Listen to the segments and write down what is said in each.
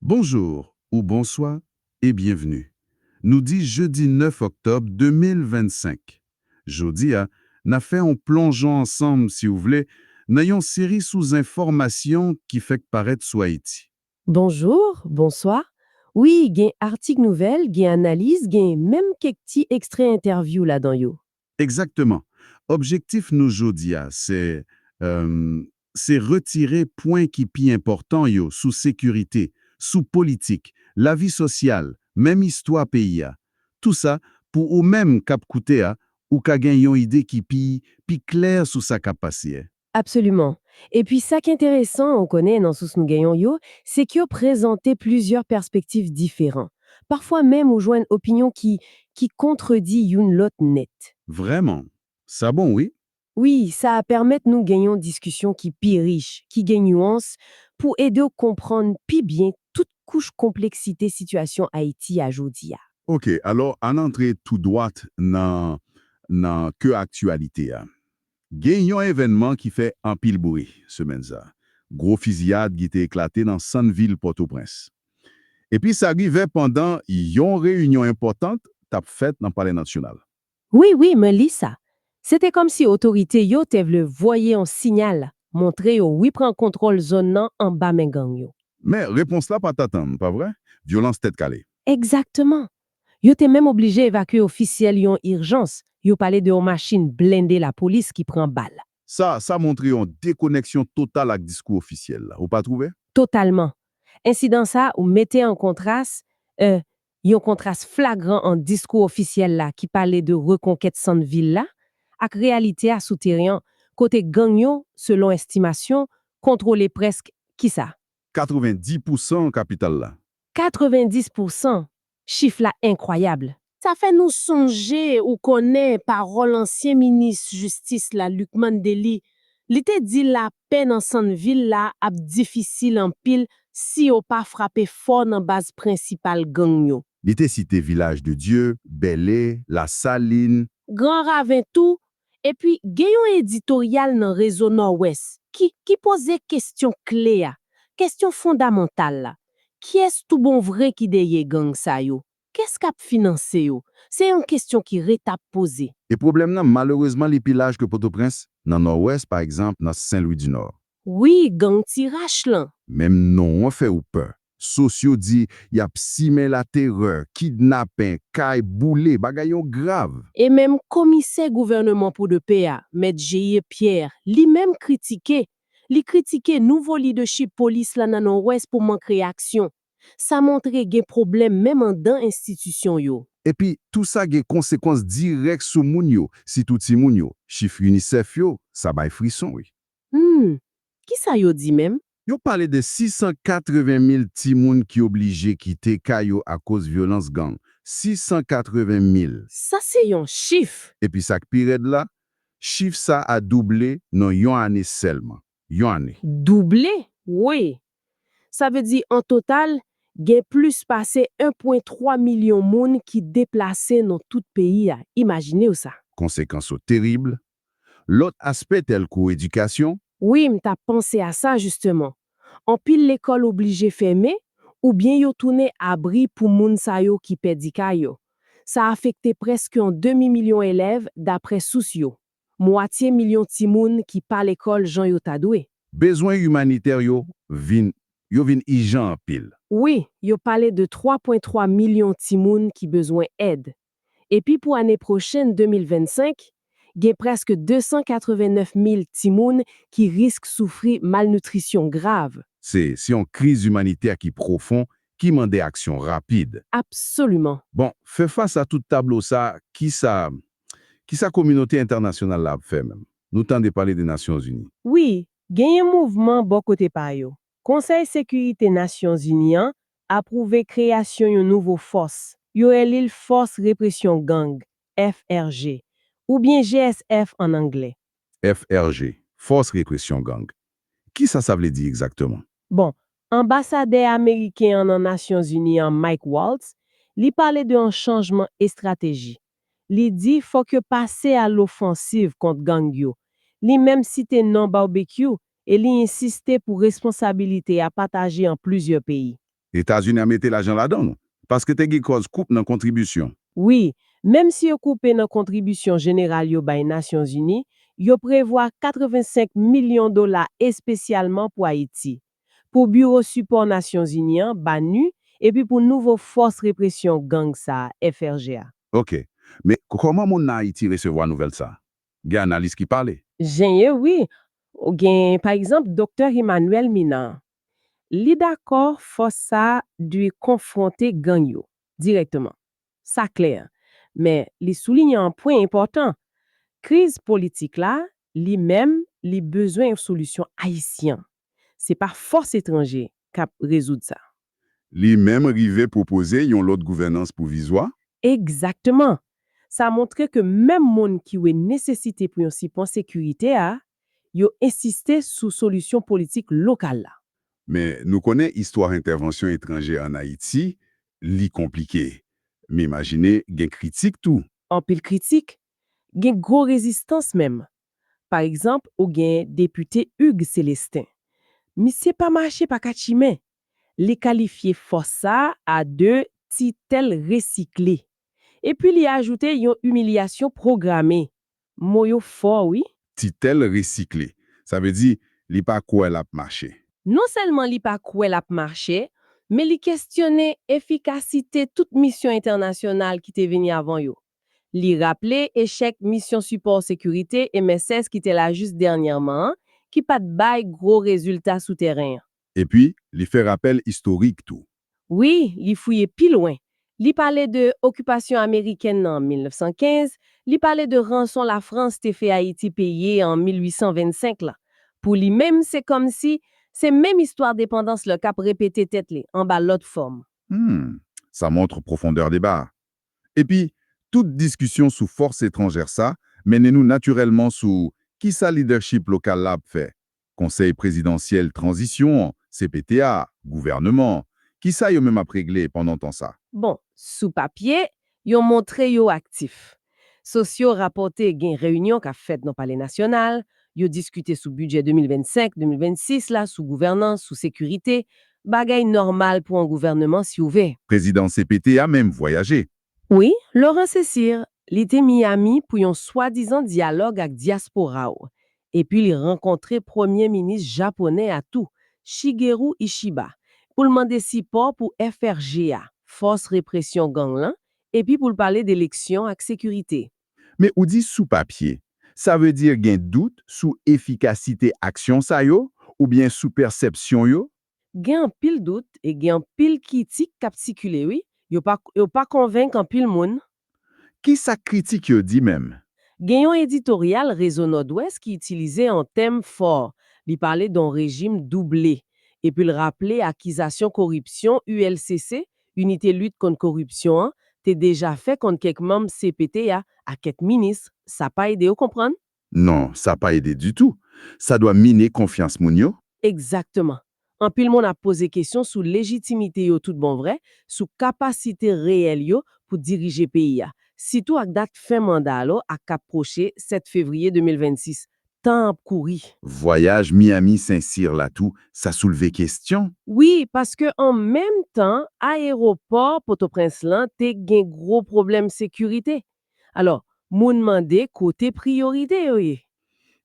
Bonjour ou bonswa e byenvni. Nou di jedi 9 oktòb 2025. Jodi a, n a fè on plonjon ansanm si w vle nan yon seri sou zenfòmasyon ki fèk parèt sou Ayiti. Bonjour, bonswa, wi gen artik nouvèl, gen analiz, gen menm kèk ti ekstrè entèvyou ladan yo. Egzakteman. Objektif nou jodi a se, emm, se retire pwen ki pi enpòtan yo sou sekirite, sou politik, lavi sosyal, menm istwa peyi a. Tou sa, pou ou menm k ap koute a, ou ka gen yon ide ki pi, pi klè sou sa k ap pase. Absoliman. Epi sa k enteresan, ou konnen, nan sous nou genyon yo, se k yo prezante plizyè pèspektif diferan. Pafwa menm ou jwenn opinyon ki ki kontredi youn lòt nèt. Vrèman! Sa bon wi! Wi, sa a pèmèt nou gen yon diskisyon ki pi rich, ki gen nuans, pou ede w konprann pi byen tout kouch konpleksite sitiyasyon Ayiti a jodi a. Ok, alò ann antre tou dwat nan nan kè aktyalite a. Gen yon evènman ki fè anpil bri semèn sa, gwo fiziyad ki te eklate nan sant vil Pòtoprens. Epi sa rive pandan yon reyinyon enpòtant t ap fèt nan Palè Natyonal. Wi, wi, mwen li sa. Se te kòmsi otorite yo te vle voye yon sinyal, montre yo repran kontwòl zòn nan anba men gang yo. Men, repons la pa t atann, pa vre? Vyolans tèt kale. Egzakteman! Yo te menm oblije evakye ofisyèl yon irjans, yo pale de yon machin blende lapolis ki pran bal. Sa, sa montre yon dekoneksyon total ak diskou ofisyèl la, ou pa twouve? Totalman. Ensidan sa ou mete an kontras, e, yon kontras flagran ant diskou ofisyèl la ki pale de rekonkèt sant vil la, ak reyalite a sou teren an, kote gang yo, selon estimasyon, kontwole prèsk, kisa? 90 pousan kapital la. 90 pou san! Chif la enkwayab! Sa fè nou sonje ou konnen pawòl ansyen minis jistis la Lucmane Delly, li te di lapè nan sann vil la ap difisil anpil si yo pa frape fò nan baz prensipal gang yo. Li te site Vilaj de Dye, Bèle, Lasalin. Gran Raven tou, Epi gen yon editoryal nan Rezo Nòwès ki ki poze kesyon kle a, kesyon fondamantal la, Kyès toubonvre ki dèyè gang sa yo? Kès k ap finanse yo? Se yon kesyon ki ret ap poze. E pwoblèm nan, malerezman li pi laj ke Potoprens, nan Nòwès, pa egzanp, nan Sen Lwi di Nò. Wi, gang Tirach lan. Menm non an fè ou pè. Sos yo di yap simen la terè, kidnapen, kay boule, bagay yon grav. E menm komisè gouvèneman pou de pè a, mèt Jeir Pierre, li menm kritike, li kritike nouvo lidechip polis la nan Nòwès pou mank reyaksyon. Sa montre gen pwoblèm menm andan enstitisyon yo. Epi, tou sa gen konsekwans dirèk sou moun yo, sitou timoun yo. Chif UNICEF yo, sa bay frison wi. Humm! Kisa yo di menm? Yo pale de 680 mil timoun ki oblije kite kay yo akoz vyolans gang. 680 mil! Sa se yon chif! Epi sa k pi rèd la, chif sa a double nan yon ane sèlman. Yon ane! Double? Woy! Sa vle di an total, gen plis pase 1 pwen 3 milyon moun ki deplase nan tout peyi a. Imajine w sa! Konsekans yo terib, Lòt aspè tèlkou edikasyon. Wi, m t ap panse a sa jisteman. Anpil lekòl oblije fèmen oubyen yo tounen abri pou moun sa yo ki pèdi kay yo. Sa afekte prèske yon demi milyon elèv daprè sous yo. Mwatye milyon timoun ki pa lekòl jan yo ta dwe. Bezwen imanitè yo vin yo vin ijan anpil. Wi, yo pale de 3 pwen 3 milyon timoun ki bezwen èd. epi pou ane pwochenn 2025, gen prèske 289 mil timoun ki risk soufri malnitrisyon grav. Se se yon kriz imanitè ki pwofon, ki mande aksyon rapid. Absoliman. Bon, fè fas a tout tablo sa, kisa kisa kominote entènasyonal la ap fè menm? Nou tande pale de Nasyonzini. Wi, genyen mouvman bò kote pa yo, Konsèy Sekirite Nasyonzini an apwouve kreyasyon yon nouvo fòs, yo rele l Fòs Represyon Gang, FRG, oubyen GSF an anglè. FRG, Fòs Represyon Gang, kisa sa vle di egzakteman? Bon, anbasadè ameriken an nan Nasyonzini an Mike Waltz, li pale de yon chanjman estrateji. Li di fòk yo pase a lofansiv kont gang yo. Li menm site non Barbecue e li ensiste pou responsabilite a pataje an plizyè peyi. Etazini a mete lajan ladan l, paske te gen kòz koup nan kontribisyon. Wi, menm si yo koupe nan kontribisyon jeneral yo bay Nasyonzini, yo prevwa 85 milyon dola espesyalman pou Ayiti. pou Biwo Sipò Nasyonzini an, BANUH, epi pou nouvo Fòs Represyon Gang sa, FRG, a. Ok. Men, kòman moun nan Ayiti resevwa nouvèl sa? Gen analis ki pale? Genyen wi. Gen, pa egzanp, Doktè Emmanuel Minan. Li dakò fòs sa dwe konfwonte gang yo, dirèkteman. Sa klè. Men, li soulinye yon pwen enpòtan. Kriz politik la, li menm, li bezwen yon solisyon ayisyen. Se pa fòs etranje k ap rezoud sa. Li menm rive pwopoze yon lòt gouvènans pwovizwa. Egzakteman! Sa montre ke menm moun ki wè nesesite pou yon sipò sekirite a, yo ensiste sou solisyon politik lokal la. Men, nou konnen istwa entèvansyon etranje ann Ayiti, li konplike. M imajine gen kritik tou. Anpil kritik, gen gwo rezistans menm, Pa egzanp ou gen depite Hugues Celestin. Misye pa mache pa kat chimen. Li kalifye fòs sa a de titèl resikle. Epi li ajoute yon imilyasyon pwograme. Mo yo fò wi. Titèl resikle. Sa vle di li pa kwè l ap mache. Non sèlman li pa kwè l ap mache, men li kestyone efikasite tout misyon entènasyonal ki te vini avan yo. Li raple echèk Misyon Sipò Sekirite, mss, ki te la jis dènyèman an, ki pa t bay gwo rezilta sou tèren an. Epi, li fè rapèl istorik tou. Wi, li fouye pi lwen. Li pale de okipasyon ameriken nan 1915, li pale de ranson Lafrans te fè Ayiti peye an 1825 la. Pou li menm, se kòmsi, se menm istwa depandans la k ap repete tèt li, anba lòt fòm. Hum! Sa montre pwofondè deba a. Epi, tout diskisyon sou fòs etranjè sa mennen nou natirèlman sou kisa lidèchip lokal la ap fè, Konsèy Prezidansyèl Tranzisyon an, cpt a, gouvèneman an, kisa yo menm ap regle pandan tan sa? Bon, sou papye, yo montre yo aktif. Sosyo rapòte gen reyinyon k ap fèt nan Palè Nasyonal, Yo diskite sou bidjè 2025, 2026 la, sou gouvènans, sou sekirite, bagay nòmal pou an gouvèneman si ou ve. Prezidan cpt a menm vwayaje. Wi, Laurent Cesir, li te Miami pou yon swadizan dyalòg ak dyaspora ou. Epi li rankontre premye minis japonè a tou, Shigeru Ishiba, pou l mande sipò pou FRG a, Fòs Represyon Gang lan, epi pou l pale de eleksyon ak sekirite. Men ou di sou papye, sa vle di gen dout sou efikasite aksyon sa yo oubyen sou pèsèpsyon yo? Gen anpil dout e gen anpil kitik k ap sikile wi, yo pa konvenk anpil moun. Ki sa kritik yo di menm? Gen yon editoryal Rezo Nòdwès ki itilize yon tèm fò, li pale don rejim double epi l raple akizasyon koripsyon ULCC Inite Lit Kont Koripsyon an te deja fè konn kèk manm cpt a ak kèk minis, sa pa ede yo konprann? Non, sa pa ede ditou. Sa dwa mine konfyans moun yo. Egzakteman. Anpil moun ap poze kesyon sou lejitimite yo tout bon vrè, sou kapasite reyèl yo pou dirije peyi a, sitou ak dat fen manda lo a k ap pwoche 7 fevriye 2026. Tan an ap kouri. Vwayaj Miami Sen Sir la tou sa soulve kestyon. Wi, paske an menm tan ayewopò Potoprens lan te gen gwo pwoblèm sekirite. Alò, moun mande kote priyorite yo ye?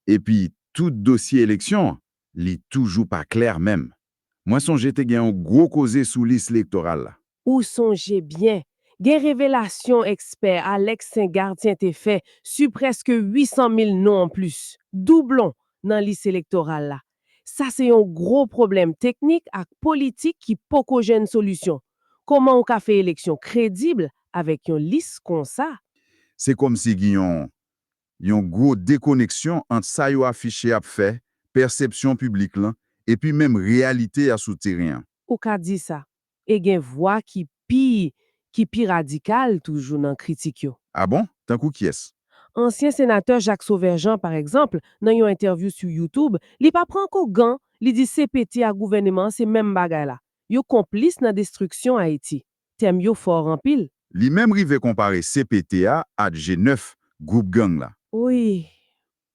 Epi tout dosye eleksyon an, li toujou pa klè menm. Mwen sonje te gen yon gwo koze sou lis elektoral la. Ou sonje byen, gen revelasyon ekspè Alex Saint Gartien te fè su prèske 800 mil non anplis, doublon, nan lis elektoral la. Sa se yon gwo pwoblèm teknik ak politik ki poko jwenn solisyon. Koman ou ka fè eleksyon kredib avèk yon lis konsa? Se kòmsi gen yon yon gwo dekoneksyon ant sa yo afiche ap fè, pèsepsyon piblik lan, epi menm reyalite a sou teren an. Ou ka di sa. E gen vwa ki pi ki pi radikal toujou nan kritik yo. A bon? Tankou kiyès? Ansyen senatè Jacques Sauveur Jean, pa egzanp, nan yon entèvyou sou YouTube, li pa pran ko gan, li di cpt ak gouvèneman an se menm bagay la. Yo konplis nan destriksyon Ayiti. tèm yo fort anpil. Li menm rive konpare cpt a at G 9 group gang la. Wi.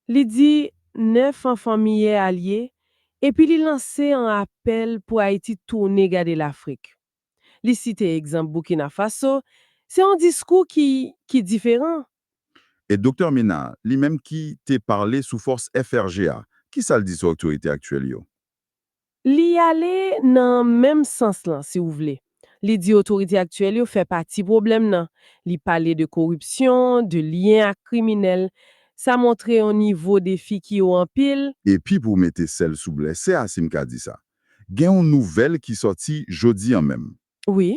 Li di 9 an fanmi yè a l ye epi li lanse an apèl pou Ayiti tounen gade Lafrik. Li site egzanp Boukina Faso, se yon diskou ki ki diferan. E Doktè Ménard, li menm ki te parle sou fòs FRG a, kisa l di sou otorite aktyèl yo? Li ale nan menm sans lan, si w vle. Li di otorite aktyèl yo fè pati pwoblèm nan. Li pale de koripsyon, de lyen ak kriminèl. Sa montre yon nivo defi ki wo anpil. Epi pou mete sèl sou blèse a, si m ka di sa, gen yon nouvèl ki sòti jodi an menm. Wi.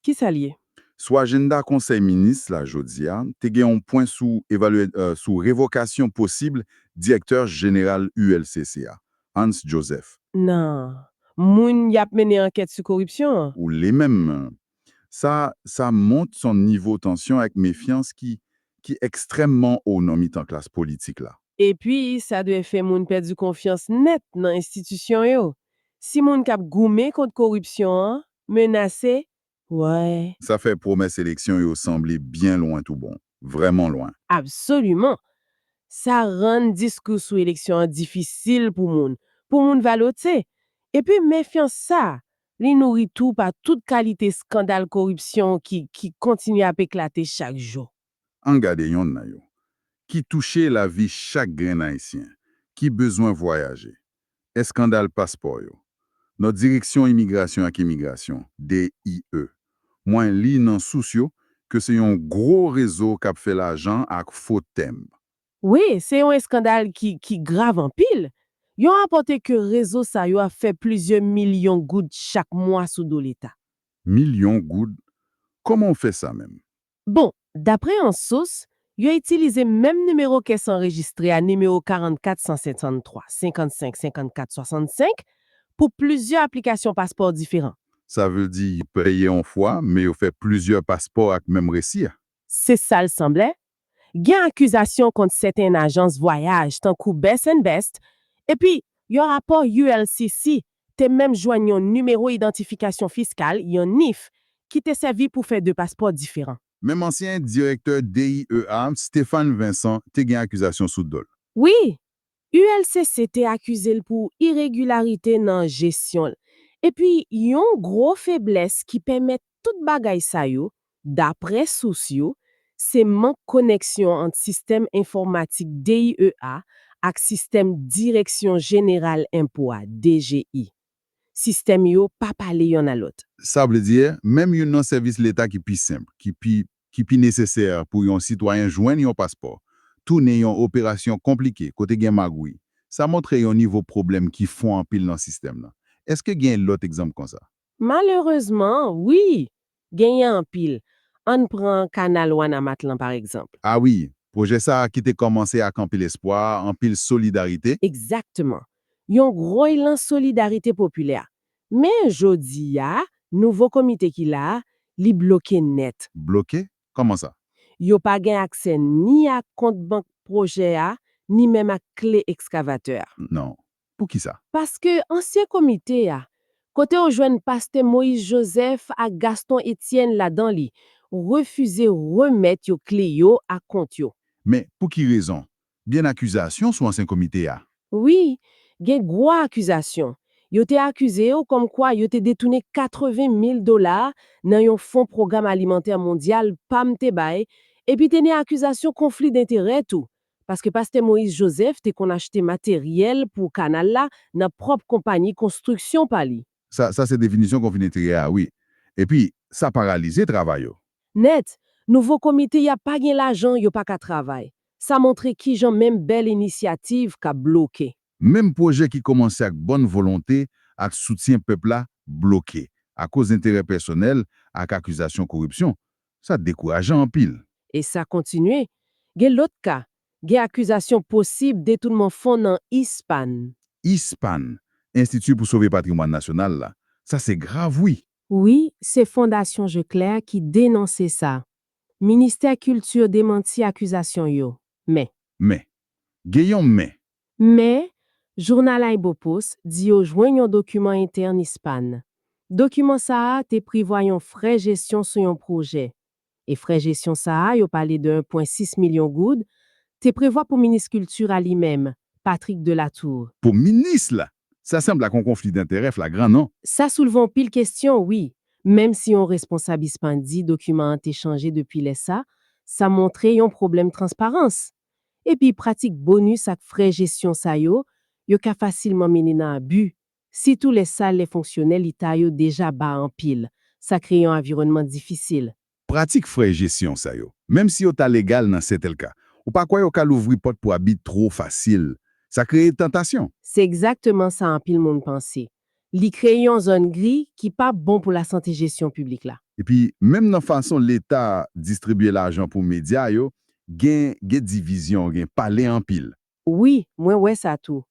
Ki sa l ye? Sou ajennda konsèy minis la jodi a, te gen yon pwen sou evalye sou revokasyon posib direktè jeneral ULCC a, Hans Joseph. Nan moun y ap mennen ankèt sou koripsyon an. Ou le menm. Sa sa mont s on nivo tansyon ak mefyans ki ki ekstrèmman o nan mitan klas politik la. Epi sa dwe fè moun pèdi konfyans nèt nan enstitisyon yo. Si moun k ap goumen kont koripsyon an menase wè. Sa fè pwomès eleksyon yo sanble byen lwen tou bon. Vrèman lwen. Absoliman. Sa rann diskou sou eleksyon an difisil pou moun, pou moun valote. Epi mefyans sa, li nouri tou pa tout kalite skandal koripsyon ki ki kontinye ap eklate chak jou. An gade yonn nan yo, ki touche lavi chak grenn Ayisyen, ki bezwen vwayaje, eskandal paspò yo, nan Direksyon Imigrasyon ak Emigrasyon, DIE. Mwen li nan sous yo ke se yon gwo rezo k ap fè lajan ak fo tenb. Wi, se yon eskandal ki ki grav anpil. Yo rapòte ke rezo sa yo ap fè plizyè milyon goud chak mwa sou do Leta. Milyon goud? Kòman w fè sa menm? Bon, daprè yon sous, yo itilize menm nimewo kès anrejistre a nimewo 44 153 55 54 65 pou plizyè aplikasyon paspò diferan. Sa vle di yo peye yon fwa, men yo fè plizyè paspò ak menm resi a. Se sa l sanble. Gen akizasyon kont sèten ajans vwayaj tankou Best and Best epi yon rapò ULCC te menm jwenn yon Nimewo Idantifikasyon Fiskal, yon NIF, ki te sèvi pou fè de paspò diferan. Menm ansyen direktè DIE a, Stéphane Vincent, te gen akizasyon sou do l. Wi! ULCC te akize l pou iregilarite nan jesyon l. Epi yon gwo feblès ki pèmèt tout bagay sa yo, Daprè sous yo, se mank koneksyon ant sistèm enfòmatik DIEA ak sistèm Direksyon Jeneral Enpo a, DGI. Sistèm yo pa pale yonn a lòt. Sa vle di, menm youn nan sèvis leta ki pi senp, ki pi, ki pi nesesè pou yon sitwayen jwenn yon paspò, tounen yon operasyon konplike, kote gen magouy. Sa montre yon nivo pwoblèm ki fon anpil nan sistèm nan. Èske gen lòt egzanp konsa? Malerezman, wi! Genyen anpil. Ann pran kanal Wanament lan pa egzanp. A wi! Pwojè sa a ki te kòmanse ak anpil espwa, anpil solidarite. Egzakteman. Yon gwo elan solidarite popilè. Men, jodi a, nouvo komite ki la a, li bloke nèt. Bloke? Kòman sa? Yo pa gen aksè ni ak kont bank pwojè a, ni menm ak kle ekskavatè a. Non. Poukisa? Paske ansyen komite a, kote w jwenn pastè Moïse Joseph ak Gaston Étienne ladan li, refize remèt yo kle yo ak kont yo. Men, pou ki rezon? Gen akizasyon sou ansyen komite a. Wi, gen gwo akizasyon. Yo te akize yo kòmkwa yo te detounen 80 mil dola nan yon fon Pwogram Alimantè Mondyal, pam, te bay, epi te nen akizasyon konfli denterè tou, Paske Pastè Moïse Joseph te konn achte materyèl pou kanal la nan pwòp konpayi konstriksyon pa li. Sa sa se definisyon konfli denterè a wi. Epi, sa paralize travay yo. Nèt, nouvo komite ya pa gen lajan yo pa ka travay. Sa montre kijan menm bèl inisyativ ka bloke. Menm pwojè ki kòmanse ak bòn volonte ak soutyen pèp la bloke akoz enterè pèsonèl ak akizasyon koripsyon. Sa dekourajan anpil. E sa kontinye. Gen lòt ka. Gen akizasyon posib detounman fon nan ISPAN. ISPAN, Enstiti pou Sove Patrimwàn Nasyonal la. Sa se grav wi! Wi, se Fondasyon Je Klè ki denonse sa. Ministè Kilti demanti akizasyon yo. Men. Men. Gen yon men Men, jounal AyiboPost di yo jwenn yon dokiman entèn ISPAN. Dokiman sa a te prevwa yon frè jesyon sou yon pwojè. E frè jesyon sa a, yo pale de 1 pwen 6 milyon goud, te prevwa pou minis kilti a li menm, Patrick de la Tour. Pou minis la, sa sanble ak yon konfli danterè flagran non. Sa soulve anpil kestyon wi, menm si yon responsab ISPAN di dokiman an te chanje depi lè sa, sa montre yon pwoblèm transparans. Epi pratik bonus ak frè jesyon sa yo, yo ka fasilman mennen nan abi, sitou lè salè fonksyonè leta yo deja ba anpil, sa kreye yon aviwònman difisil. Pratik frè jesyon sa yo, menm si yo ta legal nan sètèl ka, ou pa kwè yo ka louvri pòt pou abi two fasil? Sa kreye tantasyon. Se egzakteman sa anpil moun panse. Li kreye yon zòn gri ki pa bon pou lasante jesyon piblik la. Epi, menm nan fason Leta distribye lajan pou medya yo, gen gen divizyon, gen pale anpil. Wi, mwen wè sa tou.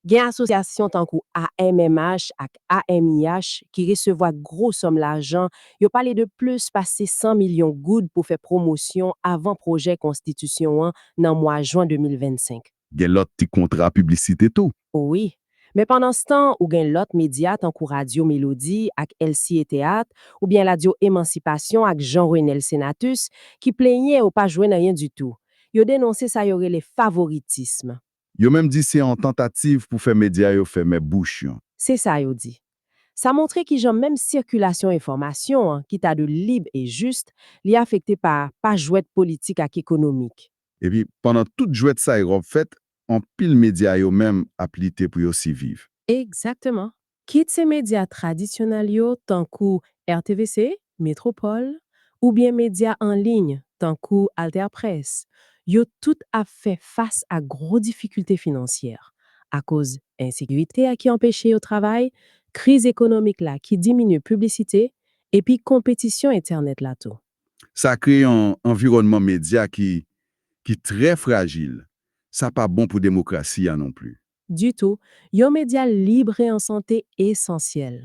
Gen asosyasyon tankou AMMH ak AMIH ki resevwa gwo sòm lajan, yo pale de plis pase 100 milyon goud pou fè pwomosyon avan pwojè konstitisyon an nan mwa jwen 2025. Gen lòt ti kontra piblisite tou. O wi. Men pandanstan, ou gen lòt medya tankou Radyo Melodi ak LCA Théâtre oubyen Radyo Emansipasyon ak Jean Renel Senatus ki plenyen yo pa jwenn anyen ditou. Yo denonse sa yo rele favoritism. Yo menm di se yon tantativ pou fè medya yo fèmen bouch yon. Se sa yo di. Sa montre kijan menm sikilasyon enfòmasyon an ki ta dwe lib e jis, li afekte pa pa jwèt politik ak ekonomik. Epi pandan tout jwèt sa y ròp fèt, anpil medya yo menm ap lite pou yo siviv. Egzakteman. Kit se medya tradisyonèl yo tankou RTVC, Metropol, oubyen medya an liy tankou AlterPresse, yo tout ap fè fas ak gwo difikilte finansyè, akoz ensekirite a ki anpeche yo travay, kriz ekonomik la ki diminye piblisite, epi konpetisyon entènèt la tou. Sa kreye yon anviwònman medya ki ki trè frajil, sa pa bon pou demokrasi a non pli. Ditou, yon medya lib e an sante esansyèl.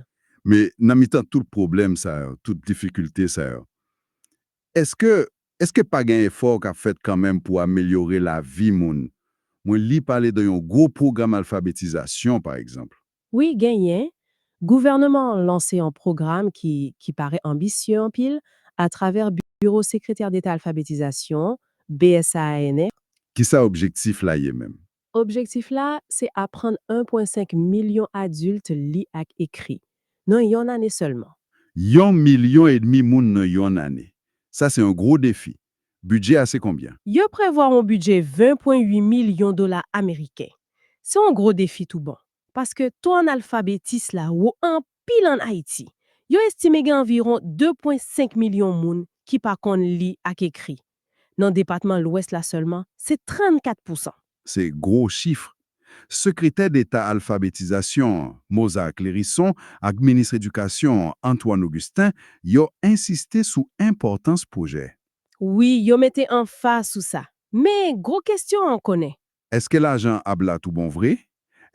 Men, nan mitan tout pwoblèm sa yo, tout difikilte sa yo, èske èske pa gen efò k ap fèt kanmenm pou amelyore lavi moun? Mwen li pale de yon gwo pwogram alfabetizasyon, pa egzanp. Wi genyen, gouvèneman an lanse yon pwogram ki ki parè anbisye anpil atravè Biwo Sekretè Deta Alfabetizasyon, BSAANR, Kisa objektif la ye menm? Objektif la se aprann 1.5 milyon adilt li ak ekri, nan yon ane sèlman. Yon milyon edmi moun nan yon ane! Sa se yon gwo defi, Bidjè a se konbyen? Yo prevwa yon bidjè 20,8 milyon dola ameriken. Se yon gwo defi tou bon, paske to analfabetis la wo anpil ann Ayiti. Yo estime gen anviwon 2,5 milyon moun ki pa konn li ak ekri. Nan depatman Lwès la sèlman, se 34 pousan. Se gwo chif. Sekretè Deta Alfabetizasyon an, Mozar Clérisson, ak Minis Edikasyon an, Antoine Augustin, yo ensiste sou enpòtans pwojè. Wi, yo mete anfaz sou sa. Men, gwo kestyon an konnen. Eske lajan ap la tou bon vre?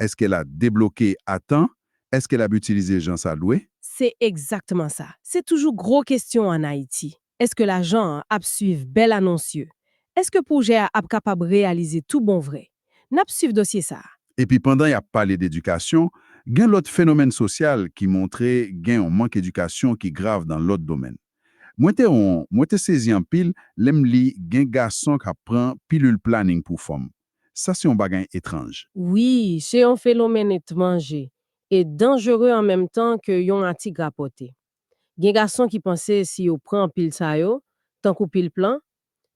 Eske l a debloke a tan? Eske l ap itilize jan sa dwe? Se egzaktman sa. Se toujou gwo kestyon an Ayiti. Eske lajan an ap swiv bèl anons yo? Eske pwojè a ap kapab reyalize tou bon vre? N ap swiv dosye sa a. Epi pandan y ap pale dedikasyon, gen lòt fenomèn sosyal ki montre gen yon mank edikasyon ki grav nan lòt domèn. Mwen te on, mwen te sezi anpil lè m li gen gason k ap pran pilil planin pou fanm. Sa se on bagay etranj. Wi, se on fenomèn etmanje e danjere an menm tan ke yon atik rapòte. Gen gason ki panse si yo pran pil sa yo, tankou pil plan,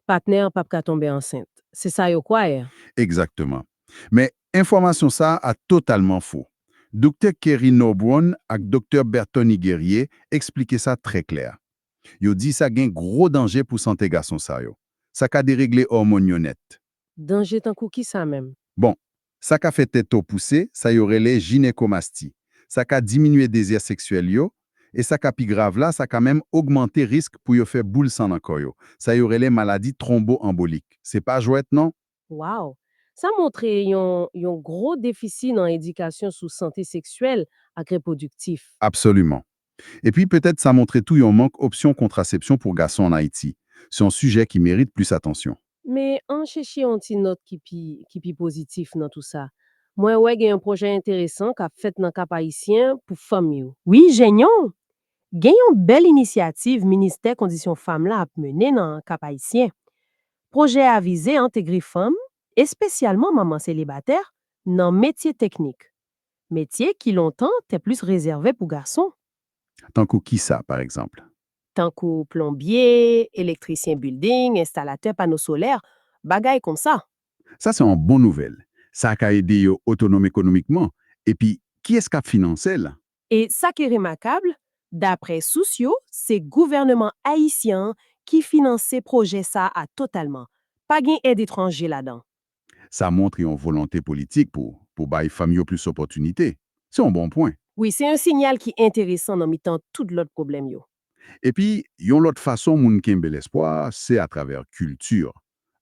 patnè an pap ka tonbe ansent. Se sa yo kwayè. Egzakteman. Men, enfòmasyon sa a totalman fo. Doktè Kerry Norbrun ak Doktè Berthony Guerrier eksplike sa trè klè. Yo di sa gen gwo danje pou sante gason sa yo. Sa ka deregle òmòn yo nèt. Danje tankou kisa menm? Bon, sa ka fè tete w pouse, sa yo rele jinekomasti. Sa ka diminye dezi seksyèl yo, e sa ka pi grav la, sa ka menm ogmante risk pou yo fè boul san nan kò yo. Sa yo rele maladi twonbo-anbolik. Se pa jwèt non! Wow! Sa montre yon yon gwo defisi nan edikasyon sou sante seksyèl ak repwodiktif. Absoliman. Epi petèt sa montre tou yon mank opsyon kontrasepsyon pou gason an Ayiti. Se yon sijè ki merit plis atansyon. Men, an chèche yon ti nòt ki pi ki pi pozitif nan tou sa. Mwen wè gen yon pwojè enteresan k ap fèt nan Kap Ayisyen pou fanm yo. Wi, Jeñon! Gen yon bèl inisyativ Ministè Kondisyon Fam la ap mennen nan Kap Ayisyen. Pwojè a vize entegre fanm, espesyalman manman selibatè, nan metye teknik. Metye ki lontan te plis rezève pou gason. Tankou kisa, pa egzanp? Tankou plonbye, elektrisyen bilding, enstalatè pano solè, bagay konsa. Sa se yon bon nouvèl. Sa ka ede yo otonom ekonomikman. Epi, kiyès k ap finanse l? E sa ki remakab, dapre sous yo, se gouvèneman ayisyen an ki finanse pwojè sa a totalman. Pa gen èd etranje ladan. Sa montre yon volonte politik pou pou bay fanm yo plis opòtinite. Se yon bon pwen. Wi, se yon sinyal ki enteresan nan mitan tout lòt pwoblèm yo. Epi, yon lòt fason moun kenbe lespwa a, se atravè kilti,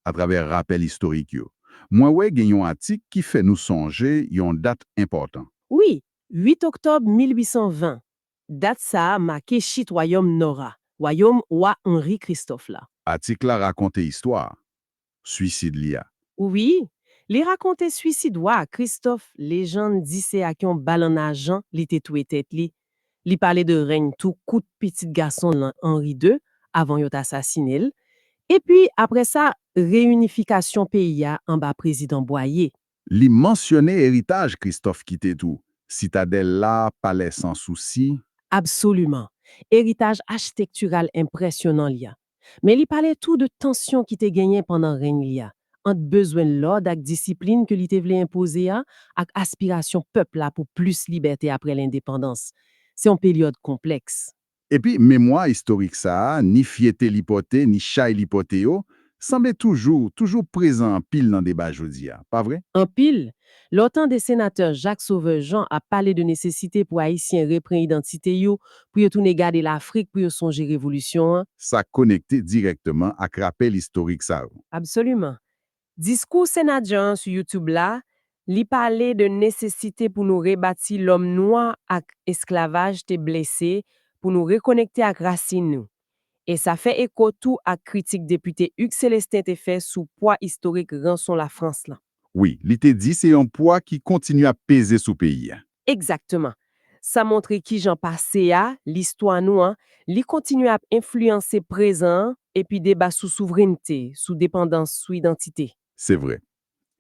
atravè rapèl istorik yo. Mwen wè gen yon atik ki fè nou sonje yon dat enpòtan. Wi, 8 oktòb 1820. Dat sa a make chit wayòm Nò a, wayòm wa Henri Christophe la. Atik la rakonte istwa a. swisid li a. Wi, li rakonte swisid wa a Christophe, lejann di se ak yon bal an ajan li te touye tèt li. Li pale de reny tou kout pitit gason l lan Henri ii avan yo t asasine l, epi apre sa reyinifikasyon peyi a anba prezidan Boyer. Li mansyone eritaj Christophe kite tou, Sitadèl la, Palè San Sousi. Absoliman. Eritaj achitektiral enpresyonan li an. Men li pale tou de tansyon ki te genyen pandan reny li a, ant bezwen lòd ak disiplin ke li te vle enpoze a ak aspirasyon pèp la pou plis libète apre lendepandans. Se yon peryòd konplèks. Epi, memwa istorik sa a, ni fyète li pòte, ni chay li pòte yo, sanble toujou, toujou prezan anpil nan deba jodi a. Pa vre? Anpil, Lè w tande Senatè Jacques Sauveur Jean ap pale de nesesite pou Ayisyen repren idantite yo, pou yo tounen gade Lafrik pou yo sonje revolisyon an, Sa konekte dirèkteman ak rapèl istorik sa yo. Absoliman. Diskou Sena Jean an sou YouTube la, li pale de nesesite pou nou rebati lòm nwa ak esklavaj te blese pou nou rekonekte ak rasin nou. e sa fè eko tou ak kritik depite Hugues Célestin te fè sou pwa istorik ranson Lafrans lan. Wi, li te di se yon pwa ki kontinye ap peze sou peyi a. Egzakteman. Sa montre kijan pase a, listwa nou an, li kontinye ap enfliyanse prezan an epi deba sou souvrennte, sou depandans, sou idantite. Se vre.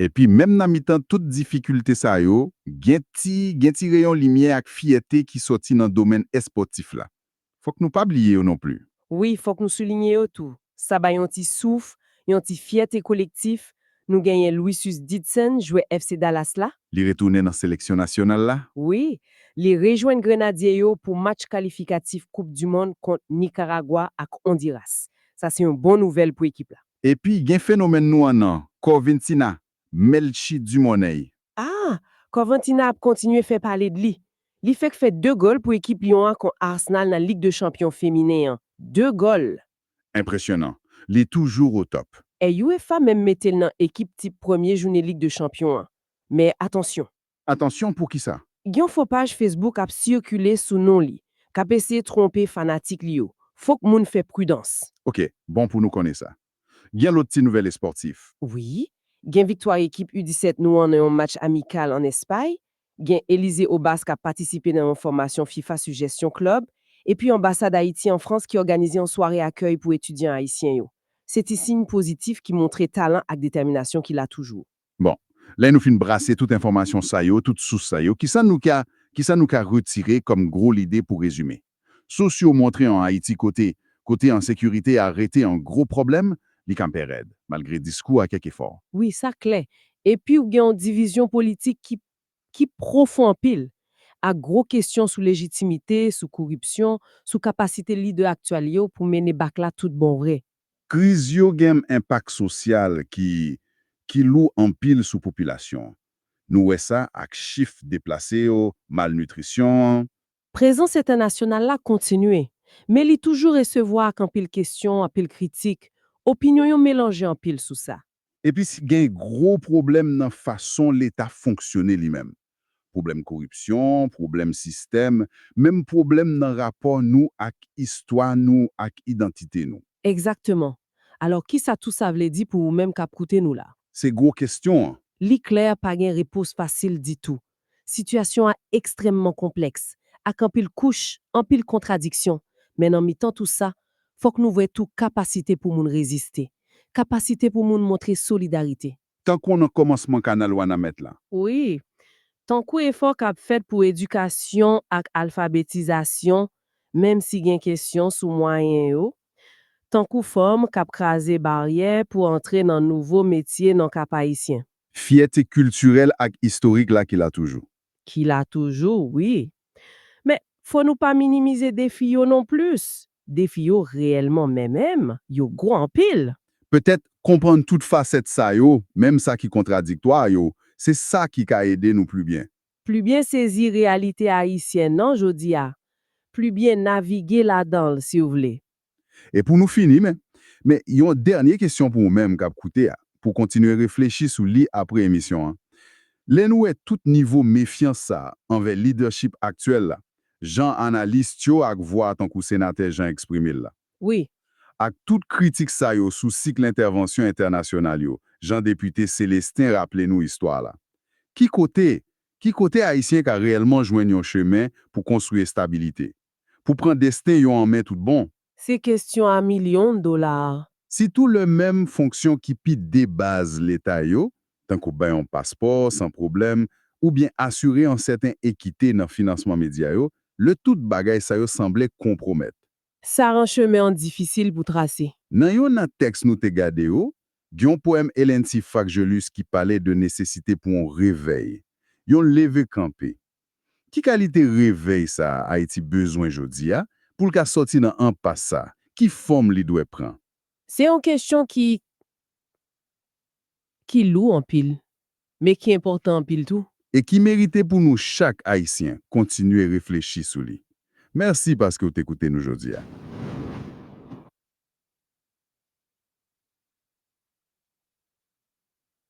Epi menm nan mitan tout difikilte sa yo, gen ti gen ti reyon limyè ak fyète ki sòti nan domèn èspòtif la. Fòk nou pa bliye yo non pli. Wi, fòk nou soulinye yo tou. Sa bay yon ti souf, yon ti fyète kolektif. Nou genyen Louis Susdidson, jwè FC Dallas la. Li retounen nan seleksyon nasyonal la. Wi, li rejwenn Grenadye yo pou match kalifikatif koup du mond kont Nikaragwa ak Ondiras. Sa se yon bon nouvèl pou ekip la. Epi gen fenomèn nou an nan, Corventina, Melchie Dumornay. Ah! Corventina ap kontinye fè pale d'li. Li fèk fè 2 gòl pou ekip Lyon an kont Arsenal nan Lig de Chanpyon feminen an. 2 gòl! Enpresyonan. Li toujou o tòp. E UEFA menm mete l nan ekip tip premye joune Lig de Chanpyon an. Men atansyon. Atansyon poukisa? Gen yon fo paj Facebook ap sikile sou non li, k ap eseye twonpe fanatik li yo. Fòk moun fè pridans. Ok, bon pou nou konnen sa. Gen lòt ti nouvèl espòtif? Wi. Gen viktwa ekip U 17 nou an nan yon match amikal an Espay. Gen Elysee Obas k ap patisipe nan yon fòmasyon fifa sou jesyon klèb. Epi anbasad Ayiti an Frans ki òganize yon sware akèy pou etidyan ayisyen yo. Se ti siy pozitif ki montre talan ak detèminasyon ki la toujou. Bon, lè nou fin brase tout enfòmasyon sa yo, tout sous sa yo, ki sa nou ka ki sa nou ka retire kòm gwo lide pou rezime? Sous yo montre an Ayiti kote kote ensekirite a rete yon gwo pwoblèm, li kanpe rèd, malgre diskou a kèk efò. Wi, sa klè. Epi ou gen yon divizyon politik ki ki pwofon anpil, ak gwo kesyon sou lejitimite, sou koripsyon, sou kapasite lidè aktyèl yo pou mennen bak la tout bon vre. Kriz yo gen m enpak sosyal ki ki lou anpil sou popilasyon an. Nou wè sa ak chif deplase yo, malnitrisyon an. Prezans entènasyonal la kontinye, men li toujou resevwa ak anpil kesyon, anpil kritik, opinyon yo melanje anpil sou sa. Epi si gen gwo pwoblèm nan fason leta fonksyone li menm. Pwoblèm koripsyon, pwoblèm sistèm, menm pwoblèm nan rapò nou ak istwa nou ak idantite nou. Egzakteman. Alò kisa tou sa vle di pou ou menm k ap koute nou la? Se gwo kestyon an. Li klè pa gen repons fasil ditou. Sitiyasyon a ekstrèmman konplèks, ak anpil kouch, anpil kontradiksyon, men nan mitan tou sa, fòk nou wè tou kapasite pou moun reziste, kapasite pou moun montre solidarite. Tankou nan kòmansman kanal Wanament la. Wi, tankou efò k ap fèt pou edikasyon ak alfabetizasyon, menm si gen kesyon sou mwayen yo, tankou fanm k ap kraze baryè pou antre nan nouvo metye nan Kap-Ayisyen. Fyète kiltirèl ak istorik la ki la toujou. Ki la toujou, wi. Men, fò nou pa minimize defi yo non plis. Defi yo reyèlman men menm, yo gwo anpil. Petèt, konprann tout fasèt sa yo, menm sa ki kontradiktwa yo, se sa ki ka ede nou pli byen. Pli byen sezi reyalite ayisyen an jodi a, pli byen navige ladan l, si w vle. E pou nou fini men, men yon dènye kesyon pou ou menm k ap koute a, pou w kontinye reflechi sou li apre emisyon an, lè nou wè tout nivo mefyans sa a anvè lidèchip aktyèl la, jan analist yo ak vwa tankou Senatè Jean eksprime l la, Wi. ak tout kritik sa yo sou sikl entèvansyon entènasyonal yo, jan Depite Célestin raple nou istwa la, ki kote, ki kote Ayisyen ka reyèlman jwenn yon chemen pou konstwi estabilite? Pou pran desten yo an men tout bon. Se kestyon a milyon dola a. Sitou lè menm fonksyon ki pi debaz Leta yo, tankou bay yon paspò san pwoblèm oubyen asire yon sèten ekite nan finansman medya yo, lè tout bagay sa yo sanble konpwomèt. Sa ran chemen an difisil pou trase. Nan yon nan tèks nou te gade yo, gen yon powèm Ellency Fraxgelus ki pale de nesesite pou yon revèy, yon leve kanpe. Ki kalite revèy sa Ayiti bezwen jodi a pou l ka sòti nan enpas sa? Ki fòm li dwè pran? Se yon kesyon ki ki lou anpil, men ki enpòtan anpil tou. E ki merite pou nou chak Ayisyen kontinye reflechi sou li. Mèsi paske w te koute nou jodi a.